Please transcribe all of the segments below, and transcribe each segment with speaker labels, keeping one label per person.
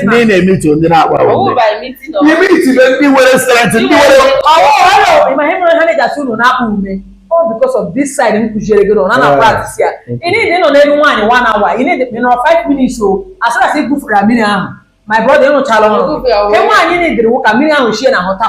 Speaker 1: ndị na-emeet ndị na-akpa imitibe ndị nwere strength ndị nwere all because of this side m kụziere gị na na practice ya ị need ịnọ n'elu nwaanyị one hour ị need nọrọ five minutes as soon as ị gụfere mmiri ahụ my brother ị rụchaala ọrụ e nwaanyị need ka mmiri ahụ si ya n'ahụ pụta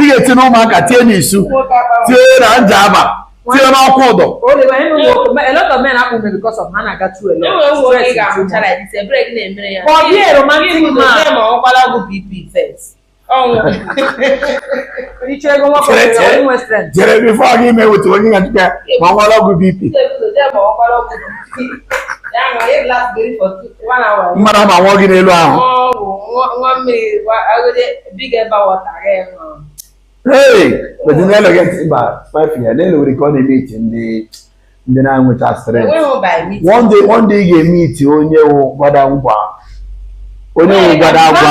Speaker 1: ị ga-eti na Ụmụaka tie n'Isu tie na Njaba tie n'Okwudor jere before gị emewetu onye ga dịka ma ọ ṅwara ọgwụ BP mmadụ ama nwụọ gị n'elu ahụ ndị na-enwecha stress one day one day ị ga-emeet onye wụ gbada ngwa onye wụ gbada agwa